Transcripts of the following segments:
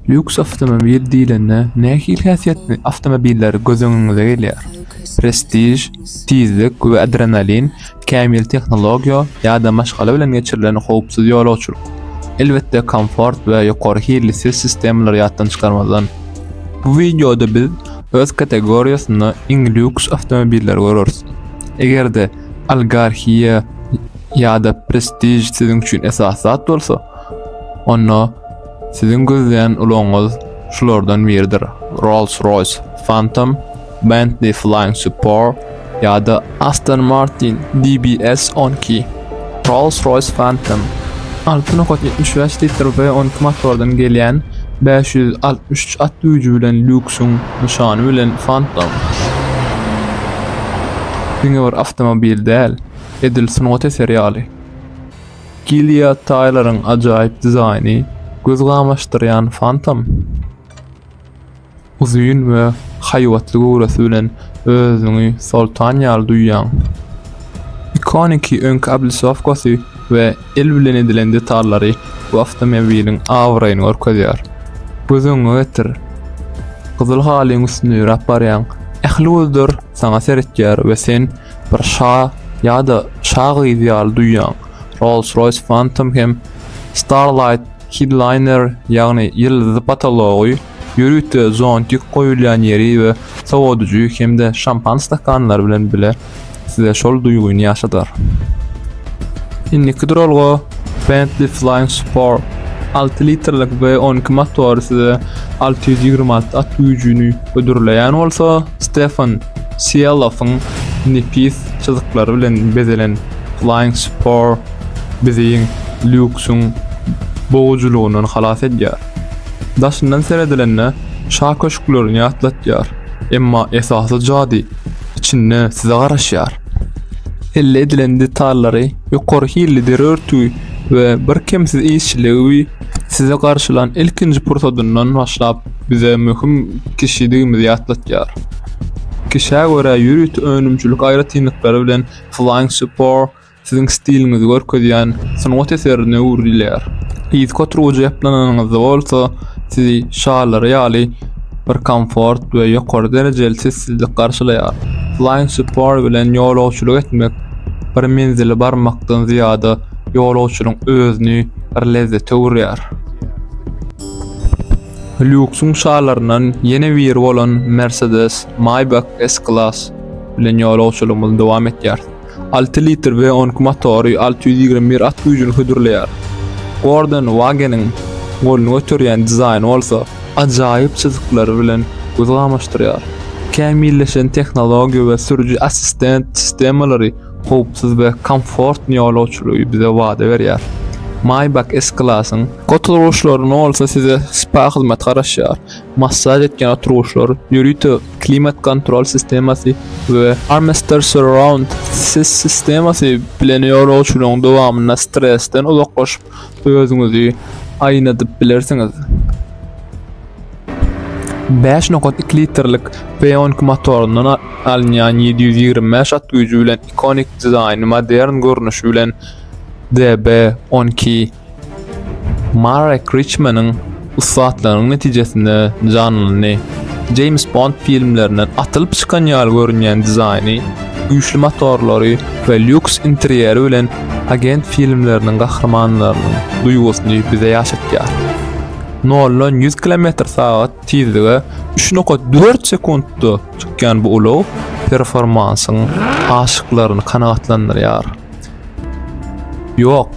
Lýuks awtomobil diýlende nähili häsiýetli awtomobiller göz öňüňize gelýär? Prestiž, tizlik we adrenalin, kämil tehnologiýa ýa-da maşgala bilen geçirilen howpsuz ýolagçylyk? Elbetde komfort we ýokary hilli ses sistemalary ýatdan çykarmazdan. Bu wideoda biz öz kategoriýasynda iň lýuks awtomobilleri göreris. Eger-de Algarhia ýa-da Prestiž siziň üçin esasy zat bolsa, Onda siziň gözleýän ulagyňyz şulardan biridir, Rolls-Royce Phantom, Bentley Flying Spur ýa-da Aston Martin DBS on iki. Rolls-Royce Phantom alty nokat ýetmiş bäş litr V on iki motordan gelýän bäş ýüz altmyş üç at güýji bilen lýuksyň nyşany bilen Phantom diňe bir awtomobil däl, edil sungat eseri ýaly. Gilead Taýleriň ajaýyp dizaýny göz gamaşdyrýan Phantom uzyn we haýbatly göwresi bilen özüňi soltan ýaly duýýaň. Ikoniki öňki obližowkasy we el bilen edilen detallary bu awtomobiliň abraýyny görkezýär. Göz öňüňe getir, gyzyl halyň üstünde ýöräp barýaň, ähli gözler saňa seretýär we sen, Bir şa ýa-da şa gyzy ýaly duýýaň. Rolls-Royce Phantom hem Starlight Headliner, ýagny ýyldyzly potology, ýörite zontik goýulýan ýeri we sowadyjy hem-de şampan stakanlary bilen bile size şol duýgyny ýaşadar. Indiki duralga Bentley Flying Spur. Alty litrlik V on iki motory size alty ýüz ýigrimi alty at güýjüni hödürleýän bolsa, Stefan Sielowyň nepis çyzyklary bilen bezelen Flying Spur bizi lýuksyň bogujylygyndan halas edýär. Daşyndan seredilende, şa köşklerini ýatlatýar, emma esasy jady içinde size garaşýar. Elde edilen detallary, ýokary hilli deri örtügi we birkemsiz işçiligi Sizi garşylan ilkinji pursadyndan başlap bize möhüm kişidigimizi ýatlatýar. Kişä görä ýörite önümçilik aýratynlyklary bilen Flying Spur siziň stiliňizi görkezýän sungat eserine öwrülýär. Yzky oturgyja ýaplananyňyzda bolsa sizi şalary ýaly bir komfort we ýokary derejeli sessizlik garşylaýar. Flying Spur bilen ýolagçylyk etmek bir menzile barmakdan zyýada ýolagçynyň özüni, bir lezzete urýar. Lýuksyň şalaryndan ýene biri bolan Mercedes Maybach S-Class bilen ýolagçylygymyzy dowam etýäris. Alty litr we on iki motory alty ýüz ýigrimi bir at güýjüni hödürleýär. Gordon Wageniň golny göterýän dizaýny bolsa ajaýyp çyzyklary bilen gözi gamaşdyrýar. Kämilleşen tehnologiýa we sürüji assistent sistemalary howpsuz we komfortny ýolagçylygy bize wada berýär. Maýbak S-Class-yň oturgyçlary bolsa size spa hyzmaty garaşýar, massaž etýän oturgyçlar, ýörite klimat-kontrol sistemasy we Armester Surround ses sistemasy bilen ýolagçylygyň dowamynda stresden uzaklaşyp, özüňizi aýnadyp bilersiňiz. Bäş nokat iki litrlik Peonk motoryndan alynýan ýedi ýüz ýigrimi bäş at güýji bilen ikonik dizaýny modern görnüşi bilen DB on iki Marek Riçmanyň ussatlygynyň netijesinde janlandy. Jeýms Bond filmlerinden atylyp çykan ýaly görünýän dizaýny, güýçli motorlary we lýuks interýeri bilen agent filmleriniň gahrymanlarynyň duýgusyny bize ýaşatýar. Noldan ýüz kilometr sagat tizlige üç nokat dört sekuntda çykýan bu ulag performansyň aşyklaryny kanagatlandyrýar. Ýok,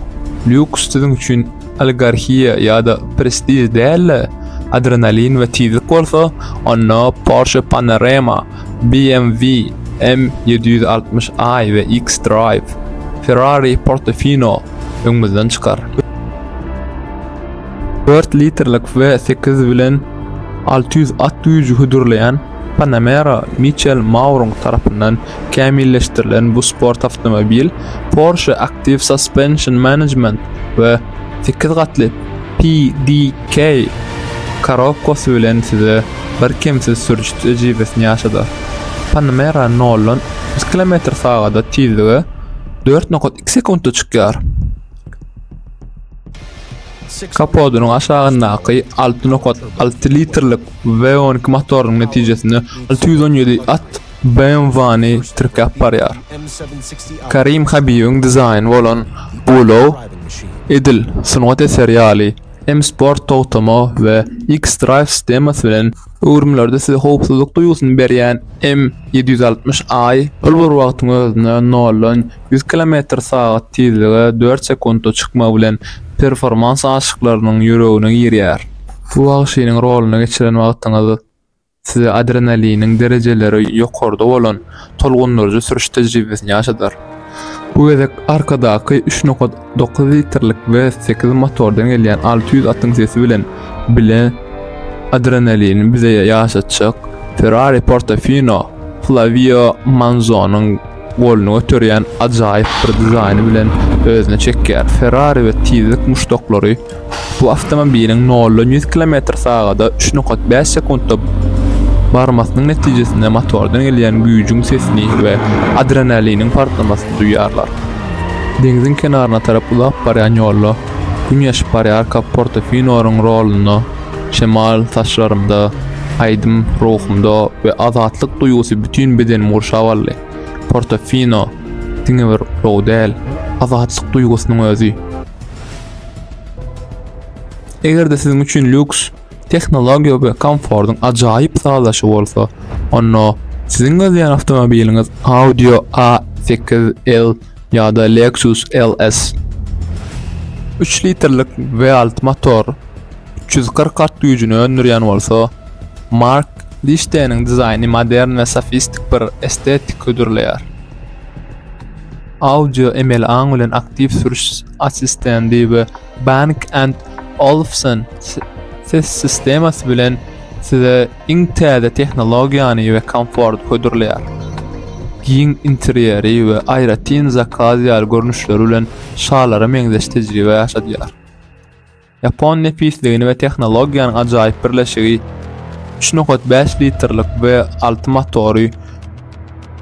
lýuks siziň üçin oligarhiýa ýa-da prestiž däl-de, adrenalin we tizlik bolsa, onda Porsche Panarema, BMW M ýedi ýüz altmyş I we X-Drive, Ferrari Portofino öňümizden çykar. Dört litrlik V sekiz bilen alty ýüz at güýji hödürleýän Panamera Miçel Maurung tarapyndan kämilleşdirilen bu sport awtomobil Porsche Active Suspension Management we sekiz gatly PDK korobkasy bilen size birkemsiz sürüş tejribesini ýaşadar. Panamera noldan otuz kilometr sagada tizlige dört nokat iki sekuntda çykýar. Kapodynyň aşagyndaky alty nokat alty litrlik V on iki motorynyň netijesinde alty ýüz on ýedi at BMW-ny tirkäp barýar. Karim Habibiň dizaýny bolan bu ulag edil sungat eseri ýaly M-Sport togtama we X-Drive sistemasy bilen öwrümlerde size howpsuzlyk duýgusyny berýän M ýedi ýüz altmyş I ol bir wagtyň özünde noldan Ýüz kilometr sagat tizlige dört sekuntda çykmagy bilen performans aşyklarynyň ýüregine girýär. Bu wagşynyň roluny geçiren wagtyňyz size adrenaliniň derejeleri ýokarda bolan tolgundyryjy sürüş tejribesini ýaşadar. Bu gezek arkadaky üç nokat dokuz litrlik we sekiz motordan gelýän alty ýüz atyň sesi bilen bile adrenalini bize ýaşatjak Ferrari Portofino Flavio Manzonyň Goluny göterýän ajaýyp bir dizaýny bilen özüne çekýär. Ferrari we tizlik muşdaklary bu awtomobiliň noldan ýüz kilometr sagada üç nokat bäş sekuntda barmasynyň netijesinde motordan gelýän güýjüň sesini we adrenaliniň partlamasyny duýýarlar. Deňziň kenaryna tarap uzap barýan ýolda Gün ýaşyp barýarka Portofinoryň rolunda Şemal saçlarymda, aýdym ruhumda we azatlyk duýgusy bütin bedenimi gurşap aldy. Portofino diňe bir ulag däl, azatlyk duýgusynyň özi. Eger-de siziň üçin lýuks, tehnologiýa we komfortyň ajaýyp sazlaşygy bolsa, onda siziň gözleýän awtomobiliňiz Audi A8L. ýa-da Lexus LS. Üç litrlik V alty motor üç ýüz kyrk at güýjüni öndürýän bolsa, Mark Lişdeniň dizaýny modern we sofistik bir estetik hödürleýär. Audio emeli aň bilen aktiw sürüş assistendi we Bang and Olufsen ses sistemasy bilen size iň täze tehnologiýany we komforty hödürleýär. Giň interýeri we aýratyn zakaz ýaly görnüşleri bilen şalara meňzeş tejribe ýaşadýar. Ýapon nepisligini we tehnologiýanyň ajaýyp birleşigi üç nokat bäş litrlik V alty motory,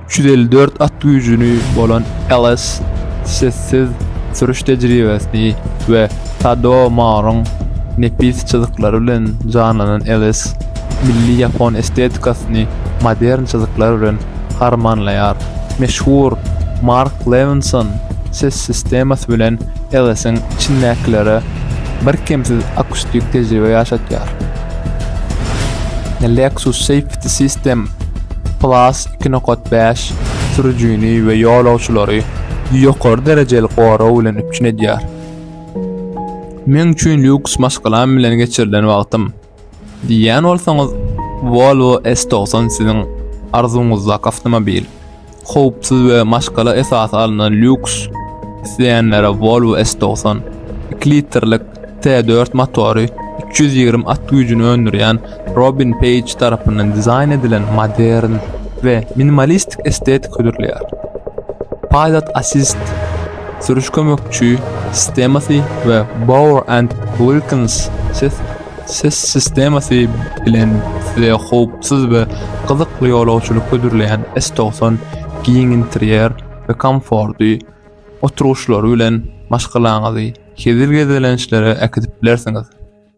354 at güýjüni bolan LS sessiz sürüş tejribesini we Tadao Maryň nepis çyzyklary bilen janlanan LS milli ýapon estetikasyny modern çyzyklar bilen harmanlaýar. Meşhur Mark Levinson ses sistemasy bilen LS-iň içindäkilere birkemsiz akustik tejribe ýaşatýar. Lexus Safe The System Plus iki nokat bäş sürüjini we ýolagçylary ýokary derejeli gorag bilen üpjün edýär. Meň üçin lýuks maşgalam bilen geçirilen wagtym diýýän bolsaňyz, Volvo S90 siziň arzuwyňyzdaky awtomobil. Howpsuz we maşgala esasy alnan lýuks isleýänlere Volvo S togsan iki litrlik T dört motory, üç ýüz ýigrimi at güýjüni öndürýän Robin Peýj tarapyndan dizaýn edilen modern we minimalistik estetika hödürleýär. Pilot Assist, sürüş kömekçi, sistemasy we Bowers and Wilkins ses Ses sistemasy bilen size howpsuz we gyzykly ýolagçylyk hödürleýän S90 giň interýer we komfortly oturyşlary bilen maşgalaňyzy hezil gezelençlere äkidip bilersiňiz.